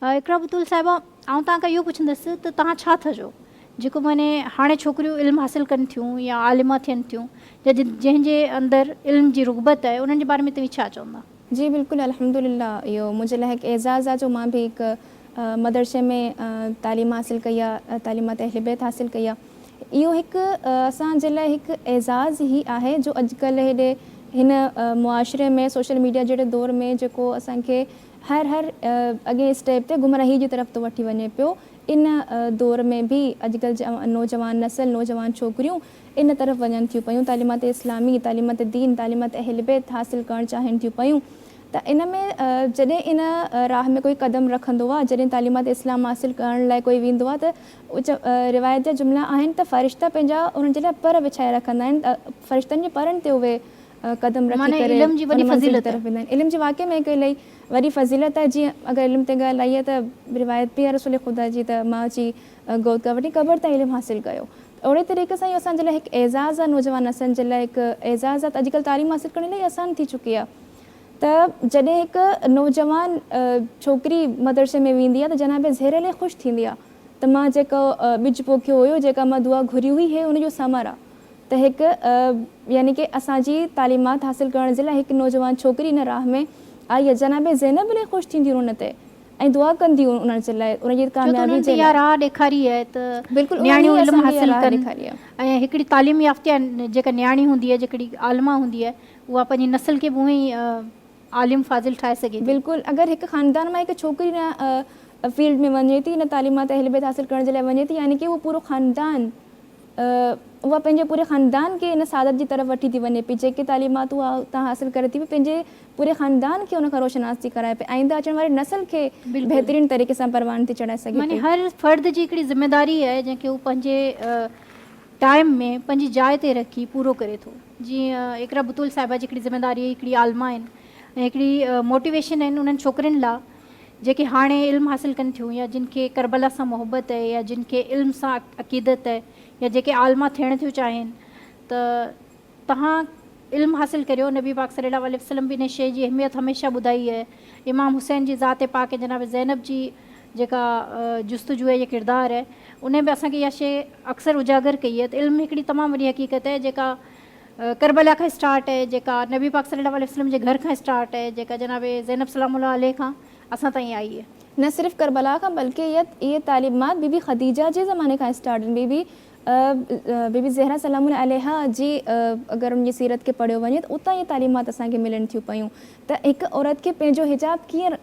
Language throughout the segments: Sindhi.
اقرا بتول صاحبه، آئون توهان کان اهو پڇندس ته توهان ڇا ٿا چئو؟ جيڪو معني هاڻي ڇوڪريون علم حاصل ڪن ٿيون يا عالمه ٿين ٿيون يا جنهن جي اندر علم جي رغبت آهي انهن جي باري ۾ توهين ڇا چوندا؟ جي بلڪل الحمدلله اهو منهنجي لاء هڪ اعزاز آهي جو مان به هڪ مدرسي ۾ تعليم حاصل ڪئي آهي تعليمات اهل بيت حاصل ڪئي آهي اهو هڪ اسان جي لاء هڪ اعزاز هي آهي جو اڄڪلهه هيڏي هن معاشري ۾ سوشل ميڊيا جهڙي دور ۾ جيڪو اسان کي هر هر اڳئين اسٽيپ تي گمراهي جي طرف ٿو وٺي وڃي پيو. ان دور ۾ به اڄڪلهه جي نوجوان نسل، نوجوان ڇوڪريون ان طرف وڃن ٿيون پيون. تعليمات اسلامي، تعليمات دين، تعليمات اهل بيت حاصل ڪرڻ چاهين ٿيون پيون ته ان ۾ جڏهن ان راهه ۾ ڪوئي قدم رکندو آ، جڏهن تعليمات اسلام حاصل ڪرڻ لاء ڪوئي ويندو آ ته روايت جا جملا آهن ته فرشتا پنهنجا انهن جي لاء پر وڇائي رکندا آهن ته فرشتن جي پرن تي اهي قدم رکي ڪري ان منزل جي طرف ويندا آهن. علم جي واقعي ۾ هڪ الائي وڏي فضيلت آهي جيئن اگر علم تي ڳالهه آئي آهي ته روايت به آهي رسول خدا جي ته ماء جي گود کان وٺي قبر تائين علم حاصل ڪيو ته اهڙي طريقي سان اهو اسان جي لاء هڪ اعزاز آهي نوجوان نسلن جي لاء هڪ اعزاز آهي ته اڄڪلهه تعليم حاصل ڪرڻ الائي آسان ٿي چڪي آهي ته جڏهن هڪ نوجوان ڇوڪري مدرسي ۾ ويندي آهي ته جناب زهري الائي خوش ٿيندي آهي ته مان جيڪو ٻج پوکيو هيو جيڪا مان دعا گهري هئي هي ان جو ثمر آهي ته هڪ يعني ڪه اسان جي تعليمات حاصل ڪرڻ جي لاء هڪ نوجوان ڇوڪري ان راهه ۾ آئي ۽ جناب زينب الهي خوش ٿينديون ان تي ۽ دعا ڪنديون ان جي لاء ان جي ڇو ته ڪاميابي انهن تي جي اها لاء. راهه ڏيکاري آهي ته بلڪل انهن نياڻيون ئي علم اسان کي اها حاصل راهه ڪن ڏيکاري آهي. ۽ هڪڙي تعليم يافته جيڪا نياڻي هوندي آهي جيڪڙي عالمه هوندي آهي اها پنهنجي نسل کي به اونهي ئي عالم فاضل ٺاهي سگهي ٿي. بلڪل اگر هڪ خاندان مان هڪ ڇوڪري ان فيلڊ ۾ وڃي ٿي ان تعليمات اهل بيت حاصل ڪرڻ جي لاء وڃي ٿي يعني ڪه اهو پورو خاندان اها پنهنجي پوري خاندان کي ان سعادت جي طرف وٺي ٿي وڃي پئي، جيڪي تعليمات اها اتان حاصل ڪري ٿي پئي، پنهنجي پوري خاندان کي ان کان روشناس ٿي ڪرائي پئي، آئنده اچڻ واري نسل کي بهترين طريقي سان پروان ٿي چڙهائي سگهي پئي. معني هر فرد جي هڪڙي ذميواري آهي، جنهن کي هو پنهنجي ٽائيم ۾ پنهنجي جاء تي رکي پورو ڪري ٿو. جيئن اقرا بتول صاحبه جي هڪڙي ذميواري هڪڙي عالمه آهن ۽ هڪڙي موٽيويشن آهن انهن ڇوڪرين لا جيڪي هاڻي علم حاصل ڪن ٿيون يا جن کي ڪربلا سان محبت اهي يا جن کي علم سان عقيدت اهي يا جيڪي عالمه ٿيڻ ٿيون چاهين ته توهان علم حاصل ڪريو نبي پاڪ صلي الله عليه وسلم به ان شيء جي اهميت هميشه ٻڌائي اهي امام حسين جي ذات پاڪ ۽ جناب زينب جي جيڪا جستجوء جي ڪردار اهي انهن به اسان کي اها شيء اڪثر اجاگر ڪئي اهي ته علم هڪڙي تمام وڏي حقيقت اهي جيڪا ڪربلا کان اسٽارٽ اهي جيڪا نبي پاڪ صلي الله عليه وسلم جي گهر کان اسٽارٽ اهي جيڪا جناب زينب سلام الله عليه کان اسان تائين آئي اهي. نه صرف ڪربلا کان بلڪه اهي تعليمات بي بي خديجه جي زماني کان اسٽارٽ اهن بي بي بي بي زهره سلام الله عليها جي اگر ان جي سيرت کي پڙهيو وڃي ته اتان اهي تعليمات اسان کي ملن ٿيون پيون ته هڪ عورت کي پنهنجو حجاب ڪيئن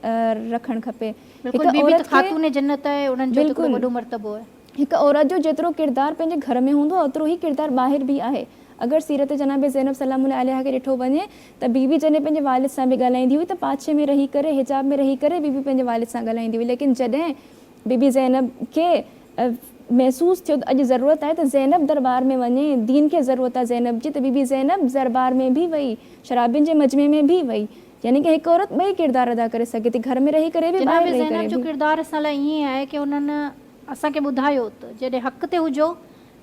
رکڻ کپي بلڪل بي بي ته خاتون جنت اهي انهن جو ته ڪيڏو وڏو مرتبو اهي. هڪ عورت جو جيترو ڪردار پنهنجي گهر ۾ هوندو آهي اوترو ئي ڪردار ٻاهر به آهي. اگر سيرت جناب زينب سلام الله عليها کي ڏٺو وڃي ته بي بي جڏهن پنهنجي والد سان به ڳالهائيندي هئي ته پاڇي ۾ رهي ڪري حجاب ۾ رهي ڪري بي بي پنهنجي والد سان ڳالهائيندي هئي ليڪن جڏهن بي بي زينب کي محسوس ٿيو ته اڄ ضرورت آهي ته زينب درٻار ۾ وڃي دين کي ضرورت آهي زينب جي ته بي بي زينب درٻار ۾ به وئي شرابين جي مجمعي ۾ به وئي يعني ڪه هڪ عورت ٻئي ڪردار ادا ڪري سگهي ٿي گهر ۾ رهي ڪري به ٻاهر رهي ڪري به. جناب زينب جو ڪردار اسان لاء ائين آهي ڪه انهن اسان کي ٻڌايو ته جيڏهن حق تي هجو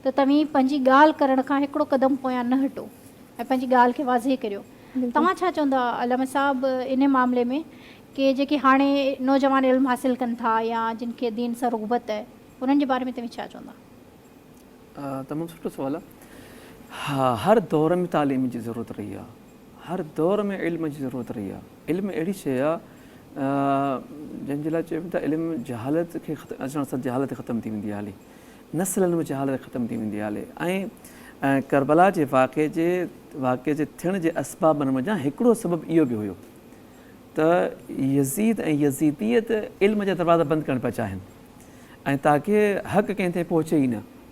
ته توهين پنهنجي ڳالهه ڪرڻ کان هڪڙو قدم پويان نه هٽو ۽ پنهنجي ڳالهه کي واضح ڪريو. توهان ڇا چوندا علامه صاحب انهي معاملي ۾ ڪي جيڪي هاڻي نوجوان علم حاصل ڪن ٿا يا جن کي دين سان رغبت اهي انهن جي باري ۾ توهين ڇا چوندا؟ تمام سٺو سوال آ. ها هر دور ۾ تعليم جي ضرورت رهي آ. هر دور ۾ علم جي ضرورت رهي آهي. علم اهڙي شيء آهي جنهن جي لاء چئبو ته علم جهالت کي ختم اچڻ سان جهالت ختم ٿي ويندي هلي نسلن ۾ جهالت ختم ٿي ويندي هلي ۽ ڪربلا جي واقعي جي واقعي جي ٿيڻ جي اسبابن منجهان هڪڙو سبب اهو به هيو ته يزيد ۽ يزيديت علم جا دروازا بند ڪرڻ پيا چاهين ۽ تاڪي حق ڪنهن تائين پهچي ئي نه.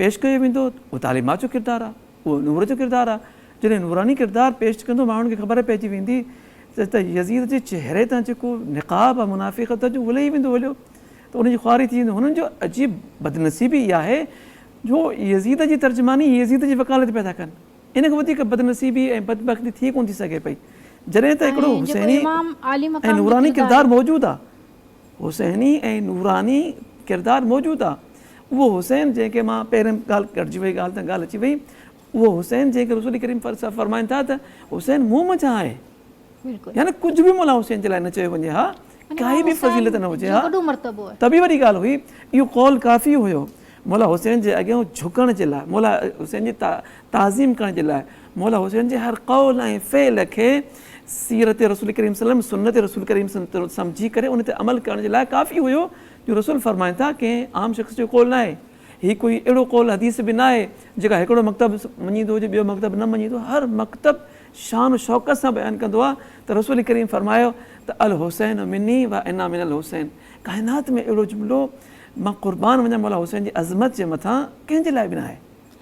پيش ڪيو ويندو اهو تعليمات جو ڪردار آهي اهو نور جو ڪردار آهي جڏهن نوراني ڪردار پيش ڪندو ماڻهن کي خبر پئجي ويندي ته ته يزيد جي چهري تان جيڪو نقاب آهي منافقت جو اهو لهي ويندو هليو ته ان جي خواري ٿي ويندي هنن جو عجيب بدنصيبي اها آهي جو يزيد جي ترجماني يزيد جي وڪالت پيا ٿا ڪن ان کان وڌيڪ بدنصيبي ۽ بدبختي ٿي ڪونه ٿي سگهي پئي جڏهن ته هڪڙو حسيني ۽ نوراني ڪردار موجود آهي حسيني ۽ نوراني ڪردار موجود آ اهو حسين جنهن کي مان پهرين ڳالهه ڪٽجي وئي ڳالهه تان ڳالهه اچي وئي اهو حسين جنهن کي رسول ڪريم صاحب فرمائن ٿا ته حسين مون منجهان آهي يعني ڪجهه به مولا حسين جي لاء نه چيو وڃي ها ڪائي به فضيلت نه هجي ها ته به وڏي ڳالهه هئي اهو قول ڪافي هيو مولا حسين جي اڳيان جهڪڻ جي لاء مولا حسين جي تعظيم ڪرڻ جي لاء مولا حسين جي هر قول ۽ فعل کي سيرت رسول ڪريم صلي الله عليه وسلم، سنت رسول ڪريم صلي الله عليه وسلم، سمجهي ڪري ان تي عمل ڪرڻ جي لاء ڪافي هيو جو رسول فرمائن ٿا ڪنهن عام شخص جو قول ناهي هي ڪوئي اهڙو قول حديث به ناهي جيڪا هڪڙو مڪتب مڃيندو هجي ٻيو مڪتب نه مڃيندو هر مڪتب شان و شوڪت سان بيان ڪندو آهي ته رسول ڪريم فرمايو ته الحسين مني و انا من الحسين ڪائنات ۾ اهڙو جملو مان قربان وڃان مولا حسين جي عظمت جي مٿان ڪنهن جي لاء به ناهي.